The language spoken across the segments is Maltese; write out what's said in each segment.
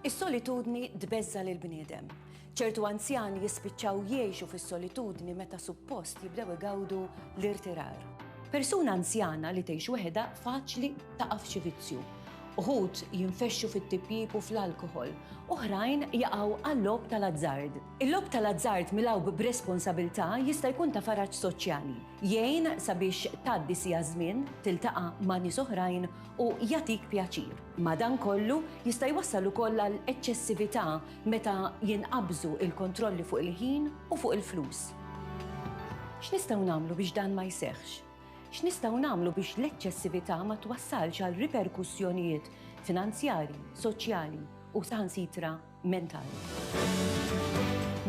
Is-solitudni tbeżża' lill-bniedem. Ċertu anzjani jispiċċaw jgħixu fis-solitudni meta suppost jibdew igawdu l-irtirar. Persuna anzjana li tgħix weħidha faċli taqa' f'xi vizzju. Uħud jinfexxu fit-tipjip u fl-alkoħol, oħrajn jaqgħu għal-logħob tal-azzard. Il-logħob tal-azzard milgħub b'responsabilità jista' jkun ta' faraġ soċjali, jgħin sabiex tgħaddi siegħa żmien, tiltaqa' ma' nies oħrajn u jagħtik pjaċir. Madankollu, jista' jwassal ukoll għal eċċessività meta jinqabżu l-kontrolli fuq il-ħin u fuq il-flus. X'nistgħu nagħmlu biex dan ma jseħħx? X'nistgħu nagħmlu biex l-eċċessività ma twassalx għal riperkussjonijiet finanzjarji, soċjali u saħansitra mentali.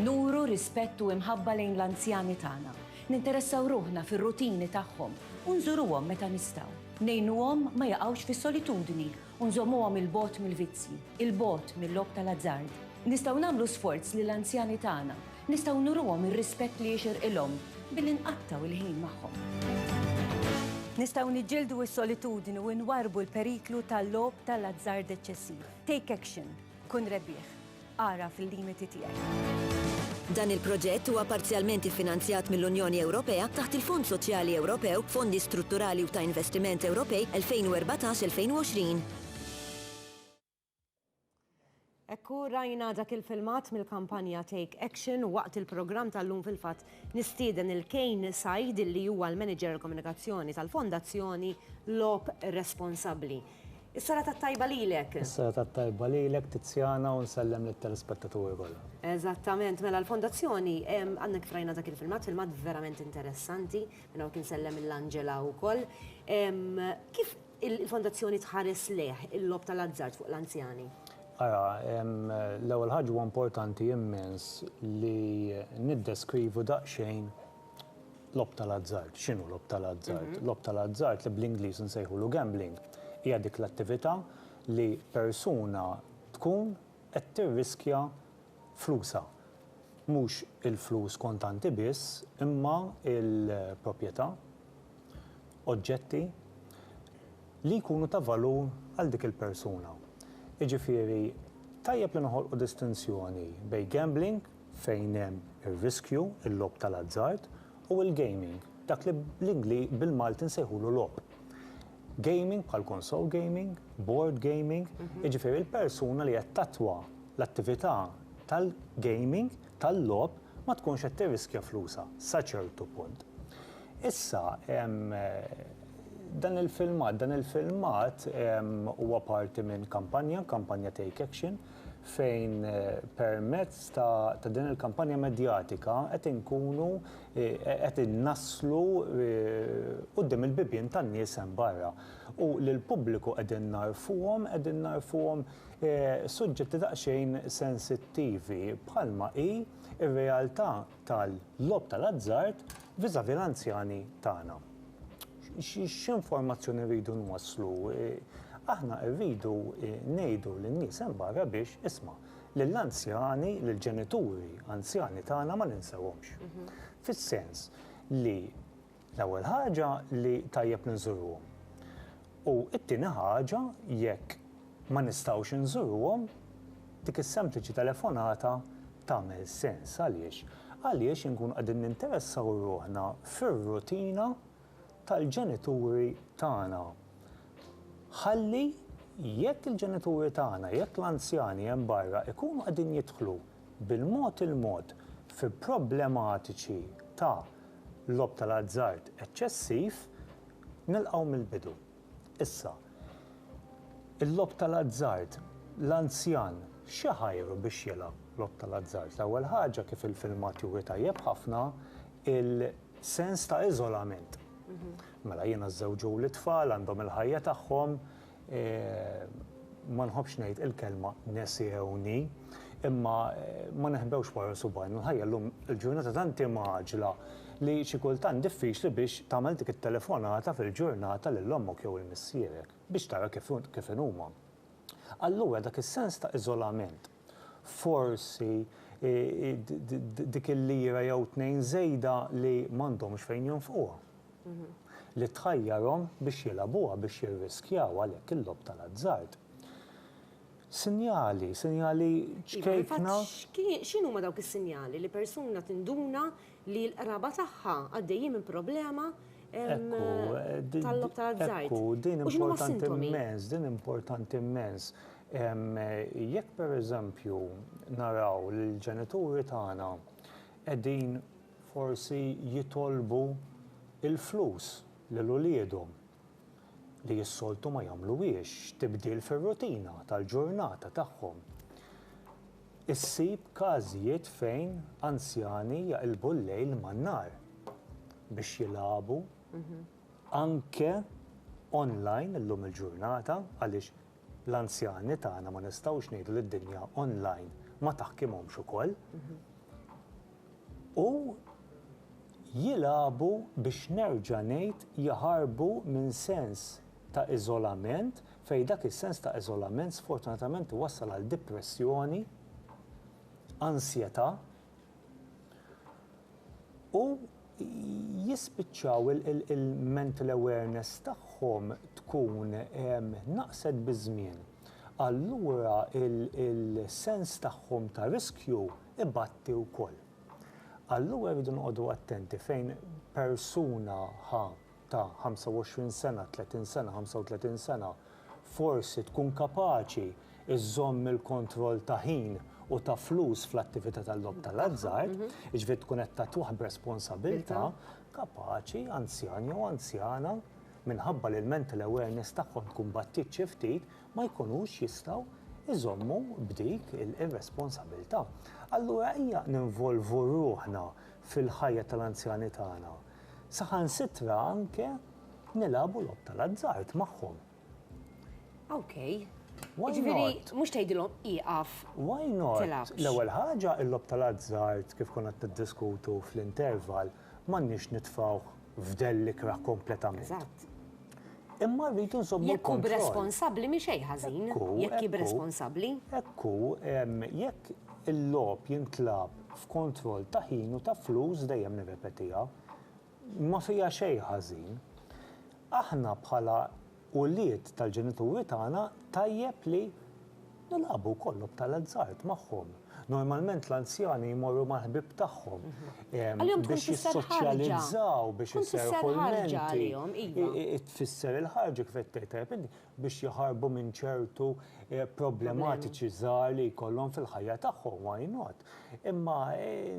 Nuru rispett u imħabba lejn l-anzjani tagħna. Ninteressaw ruħna fir-rutini tagħhom u nżuruhom meta nistgħu. Ngħinuhom ma jaqgħux fis-solitudni u nżommuhom 'il bogħod mill-vizzji, 'il bogħod mil-logħob tal-azzard. Nistgħu nagħmlu sforz li l-anzjani tagħna, nistgħu nuruhom ir-rispett li jixirqilhom billi nqattgħu l-ħin magħhom. Nistgħu niġġieldu s-solitudni u nwarrbu l-periklu tal-logħob tal-azzard eċċessiv. Take action! Kun rebbieħ. Agħraf il-limiti tiegħek. Dan il-proġett huwa parzjalment iffinanzjat mill-Unjoni Ewropea taħt il-Fond Soċjali Ewropew, Fondi Strutturali u ta' Investiment Ewropej 2014-2020. Hekk hu rajna dak il-filmat mill-kampanja Take Action u waqt il-programm tal-lum fil-fatt nistieden il-Kane Said li huwa l-Manager Komunikazzjoni tal-Fondazzjoni Logħob Responsabbli. Is-sala tat-tajba lilek. Is-sala tat-tajba lilek, Tiziana, u nsellem lit-telespettaturi kollha. Eżattament, mela l-Fondazzjoni, għadna kif rajna dak il-filmat, filmat verament interessanti, minn hawnhekk insellem lill-Angela wkoll. Kif il-Fondazzjoni tħares lejh il-logħob tal-azzard fuq l-anzjani? Ara, l-ewwel ħaġa huwa importanti immens li niddeskrivu daqsxejn Logħob tal-azzard, x'inhu logħob tal-azzard? Logħob tal-azzard li bl-Ingliż insejħulu gambling hija dik l-attività li persuna tkun qed tirriskja flusha. Mhux il-flus kontanti biss imma l-proprjetà, oġġetti li jkunu ta' valur għal dik il-persuna. Jiġifieri tajjeb li noħolqu distinzjoni bejn gambling, fejn hemm ir-riskju, il-logħob tal-azzard u l-gaming, dak li bl-Ingli bil-Malti nsejħulu logħob. Gaming bħal console gaming, board gaming, jiġifieri l-persuna li qed tattwa l-attività tal-gaming, tal-logħob, ma tkunx qed tirriskja flusha sa ċertu punt. Issa, dan il-filmat, dan il-filmat huwa parti minn kampanja, kampanja Take Action, fejn permezz ta' din il-kampanja medjatika qed inkunu qed innasslu quddiem il-bibien tan-nies hemm barra u lill-pubbliku qegħdin nagħrfuhom qegħdin nagħrfuhom suġġetti daqsxejn sensittivi bħalma hi r-realtà tal-logħob tal-azzard vis-à-vis l-anzjani tagħna. X'informazzjoni rridu nwasslu? Aħna rridu ngħidu lin-nies hemm barra biex, isma', lill-anzjani, lill-ġenituri anzjani tagħna ma ninsewhomx. Fis-sens li L-ewwel ħaġa li tajjeb li nżuruhom. U t-tieni ħaġa jekk ma nistgħux inżuruhom, dik is-sempliċi telefonata tagħmel sens. Għaliex? Għaliex inkunu qegħdin ninteressaw ruħna fir-rutina tal-ġenituri tagħna. Ħalli jekk il-ġenituri tagħna, jekk l-anzjani hemm barra ikunu qegħdin jidħlu bil-mod il-mod fi problematiċi ta' logħob tal-azzard eċċessiv, nilqgħu mill-bidu. Issa, il-logħob tal-azzard, l-anzjan xi ħajru biex jilgħab logħob tal-azzard? L-ewwel ħaġa, kif il-filmat juri tajjeb ħafna, il-sens ta' iżolament. Mela jiena żżewġuli t-tfal, għandhom il-ħajja tagħhom, ma nħobbx ngħid il-kelma nesiewni, imma ma neħbewx wara subgħajna, l-ħajja llum il-ġurnata tant hi mgħaġġla li xi kultant diffiċli biex tagħmel dik it-telefonata fil-ġurnata lil ommok jew 'il missierek biex tara kif inhuma. Allura dak is-sens ta' iżolament Forsi dik il-lira jew tnejn żejda li m'għandhomx fejn jonfquha. Li tħajjarhom biex jilagħbuha, biex jirriskjaw għalhekk il-logħob tal-azzard. Sinjali, sinjali ċkejkna. X'inhuma dawk is-sinjali li persuna tinduna li l-qraba tagħha għaddejjin minn problema tal-logħob tal-azzard? U x'inhuma s-sintomi? Din importanti immens, din importanti immens. Jekk pereżempju naraw li l-ġenituri tagħna qegħdin forsi jitolbu l-flus lil uliedhom, li s-soltu ma jagħmluhiex, tibdil fir-rutina tal-ġurnata tagħhom, issib każijiet fejn anzjani jaqilbu l-lejl man-nhar biex jilagħbu anke online illum il-ġurnata għaliex L-anzjani tagħna ma nistgħux ngħidu li d-dinja online ma taħkimhomx ukoll. U jilagħbu biex nerġa' ngħid jaħarbu minn sens ta' iżolament fejn dak is-sens ta' iżolament sfortunatament iwassal għal dipressjoni, ansjetà, U jispiċċaw il-mental awareness tagħhom tkun naqset biż-żmien. Allura il-sens tagħhom ta' riskju ibatti wkoll. Allura rridu noqogħdu attenti fejn persuna ħa ta' 25 sena, 30 sena, 35 sena, forsi tkun kapaċi żżomm il-kontroll ta' ħin u ta' flus fl-attività tal-logħob tal-azzard, jiġifieri tkun qed tagħtuh b'responsabilità, kapaċi, anzjan jew anzjana, minħabba li l-mental awareness tagħhom tkun battiet xi ftit, ma jkunux jistgħu jżommu b'dik ir-responsabilità. Allura ejja ninvolvu ruħna fil-ħajja tal-anzjani tagħna. Saħansitra anke nilagħbu logħob tal-azzard magħhom. Okay. Ġifieri mhux tgħidilhom ieqaf. Why not? L-ewwel ħaġa il-logħob tal-azzard kif konna qed niddiskutu fl-interval m'għandniex nitfgħuh f'dellikra kompletament. Eżatt. Imma rridu nżommu l-kontroll. Jekk hu b'responsabbli mhi xejn ħażin, jekk hi b'responsabbli. Hekk hu, jekk il-logħob jintlagħab f'kontroll ta' ħin u ta' flus, dejjem nirrepetiha, ma fiha xejn ħażin. Aħna bħala ulied tal-ġenituri tagħna tajjeb li Nilagħbu wkoll lob tal-azzard magħhom. Normalment l-anzjani jmorru mal-ħbieb tagħhom biex jissoċjalizzaw, biex iserrħu l-menti. Iva. Tfisser il-ħarġa kif qed tgħid tajjeb inti, biex jaħarbu minn ċertu eh, problematiċi żgħar li jkollhom fil-ħajja tagħhom, why not? Imma eh,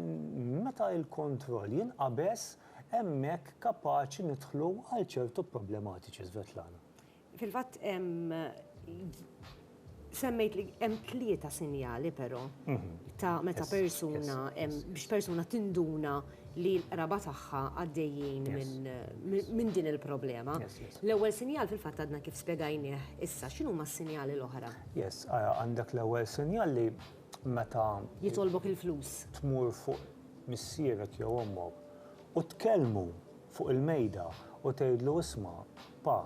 meta il-kontroll jinqabeż hemmhekk kapaċi nidħlu għal ċertu problematiċi Svetlana. Fil-fatt semmejt li hemm tlieta sinjali però ta' meta persuna biex persuna tinduna li l-qraba tagħha għaddejjin minn din il-problema. L-ewwel sinjal fil-fatt għadna kif spjegajnieh issa, x'inhuma s-sinjali l-oħra? Yes, għandek l-ewwel sinjal li meta jitolbok il-flus. Tmur fuq missierek jew ommok u tkellmu fuq il-mejda u tgħidlu isma' Pa,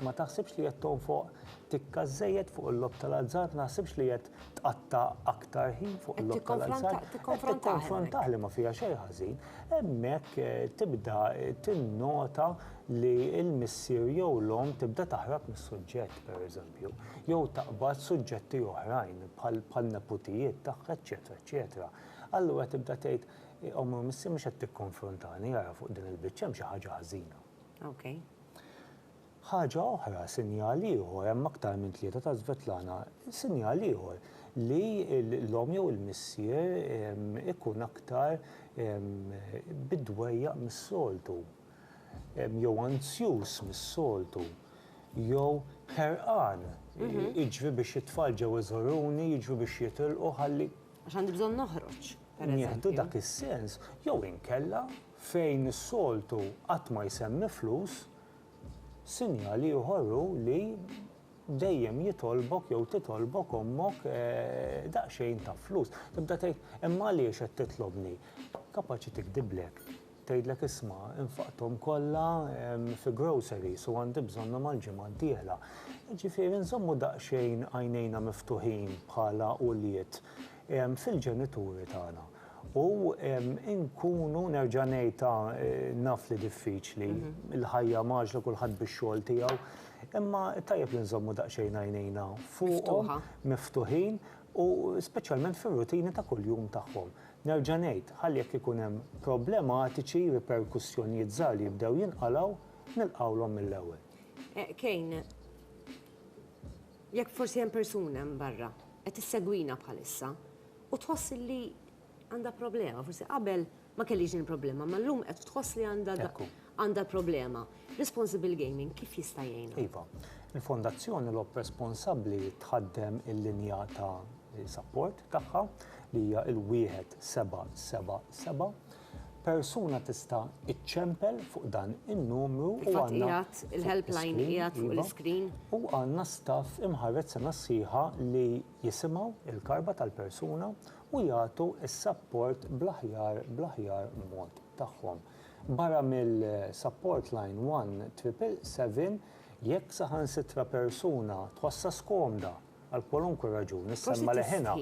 ma taħsibx li qed tonfoq tikka żżejjed fuq il-logħob tal-azzard, ma taħsibx li qed tqatta' aktar ħin fuq il-logħob tal-azzard. Qed tikkonfrontah li ma fiha xejn ħażin. Hemmhekk tibda tinnota li l-missier jew l-omm tibda taħrab mis-suġġett, pereżempju, jew taqbad suġġetti oħrajn bħan-neputijiet tagħha, eċċetera, eċċetera. Allura tibda tgħid, Ommu missier mhux qed tikkonfrontani ara fuq din il-biċċa hemm xi ħaġa ħażina. Ħaġa oħra, sinjal ieħor, hemm aktar minn tlieta ta' Svetlana, sinjal ieħor li l-omm jew il-missier ikun aktar bid-dwejjaq mis-soltu, jew anzjuż mis-soltu, jew ħerqan, jiġri biex it-tfal ġew iżuruni, jiġri biex jitilqu ħalli. Għax għandi bżonn noħroġ, pereżempju. Nieħdu dak is-sens, jew inkella. Fejn is-soltu qatt ma jsemmi flus, sinjal ieħor hu li dejjem jitolbok jew titolbok ommok daqsxejn ta' flus. Tibda tgħid, imma għaliex qed titlobni? Kapaċi tigdiblek, tgħidlek isma' infaqthom kollha fi groceries u għandi bżonnhom għall-ġimgħa d-dieħla. Jiġifieri nżommu daqsxejn għajnejna miftuħin bħala ulied. fil-ġenituri tagħna. U nkunu nerġa' ngħid naf li diffiċli, il-ħajja mgħaġġla kulħadd bix-xogħol tiegħu, imma tajjeb li nżommu daqsxejn għajnejna fuqhom miftuħin u speċjalment fir-rutini ta' kuljum tagħhom. Nerġa' ngħid, ħalli jekk ikun hemm problematiċi, riperkussjonijiet żgħar li jibdew jinqalgħu, nilqgħulhom mill-ewwel. Kane. Jekk forsi hemm persuna hemm barra qed issegwina bħalissa u tħoss li għandha problema, forsi qabel ma kellix din il-problema, imma llum qed tħoss li għandha għandha problema. Responsible Gaming kif jista' jgħinha? Iva, il-Fondazzjoni Logħob Responsabbli tħaddem il-linja ta' sapport tagħha li hija l-1777 Persuna tista' iċċempel fuq dan in-numru u għandna. Il-helpline qiegħed fuq l-iskrin. U għandna staff imħarred sena sħiħa li jisimgħu l-karba tal-persuna u jagħtu s-sapport bl-aħjar bl-aħjar mod tagħhom. Barra mill-support line 1777 jekk saħansitra persuna tħossha skomda, Għal kwalunkwe raġuni, semma leħinha.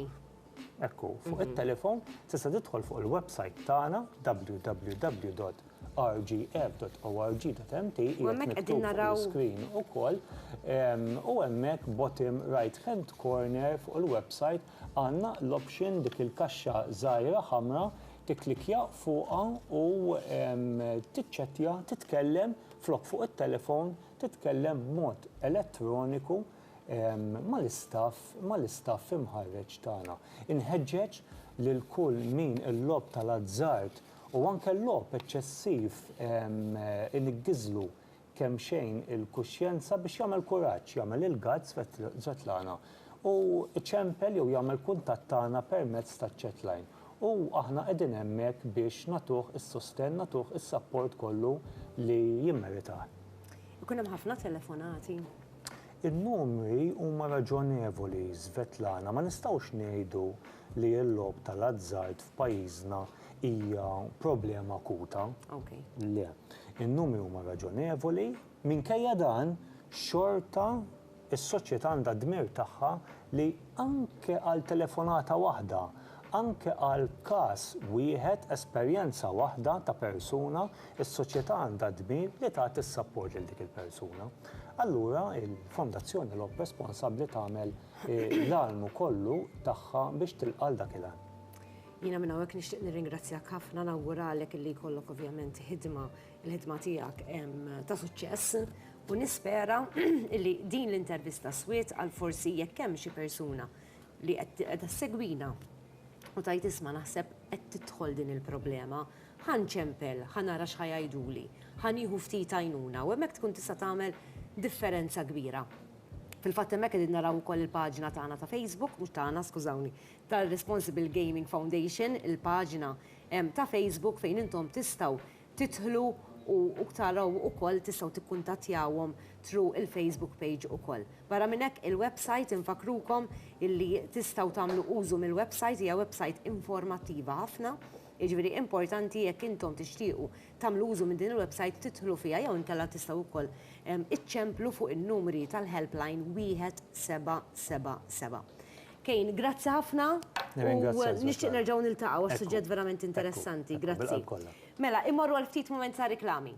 Hekk hu, fuq it-telefon tista' tidħol fuq il-website tagħna www rgf.org.mt hemmhekk qegħdin naraw screen ukoll u hemmhekk bottom right hand corner fuq il-website għandna l-option dik il-kaxxa żgħira ħamra tiklikja fuqha u tiċċettja titkellem flok fuq it-telefon titkellem b'mod elettroniku mal-istaff, mal-istaff imħarreġ tagħna. Inħeġġeġ lil kull min il-logħob tal-azzard u anke l-logħob eċċessiv iniggżlu kemmxejn il-kuxjenza biex jagħmel kuraġġ, jagħmel il-guts, Svetlana, u iċempel jew jagħmel kuntatt tagħna permezz taċ-chat line. U aħna qegħdin hemmhekk biex nagħtuh is-sostenn, nagħtuh is-sapport kollu li jimmeritah. Ikun hemm ħafna telefonati. In-numri huma raġonevoli, Svetlana. Ma nistgħux ngħidu li l-logħob tal-azzard f'pajjiżna hija problema akuta. Okay. Le. In-numri huma raġonevoli, minkejja dan xorta Is-soċjetà għandha d-dmir tagħha li anke għal telefonata waħda, anke għal każ wieħed, esperjenza waħda ta' persuna, is-soċjetà għandha d-dmir li tagħti s-sapport lil dik il-persuna. Allura il-Fondazzjoni Lok Responsabbli tagħmel l-almu kollu tagħha biex tilqa' għal dak il-għan. Jiena minn hawnhekk nixtieq nirringrazzjak ħafna, nawguralek li jkollok ovvjament ħidma Il-ħidma tiegħek ta' suċċess u nispera li din l-intervista swiet għal forsi jekk hemm xi persuna li qed segwina u tajt isma' naħseb qed tidħol din il-problema, ħan ċempel, ħan ara xħajajduli, ħan jieħu ftit għajnuna u hemmhekk tkun tista' tagħmel differenza kbira. Fil-fatt hemmhekk qegħdin naraw ukoll il-paġna tagħna ta' Facebook, mhux tagħna skużawni, tar-Responsible Gaming Foundation, il-paġna ta' Facebook fejn intom tistgħu tidħlu u taraw ukoll tistgħu tikkuntattjawhom through il-Facebook page ukoll. Barra minn hekk il-website infakkrukom illi tistgħu tagħmlu użu mill-website hija website informattiva ħafna, jiġifieri importanti jekk intom tixtiequ tagħmlu użu minn din il-website tidħlu fiha jew inkella tistgħu ukoll iċċemplu fuq in-numri tal-helpline 1777. Kane, grazzi ħafna. Nirringrazzjak. U nixtieq nerġgħu niltaqgħu għax suġġett verament interessanti. Grazzi. Bil-qalb kollha. Mela, immorru għal ftit mument ta' riklami.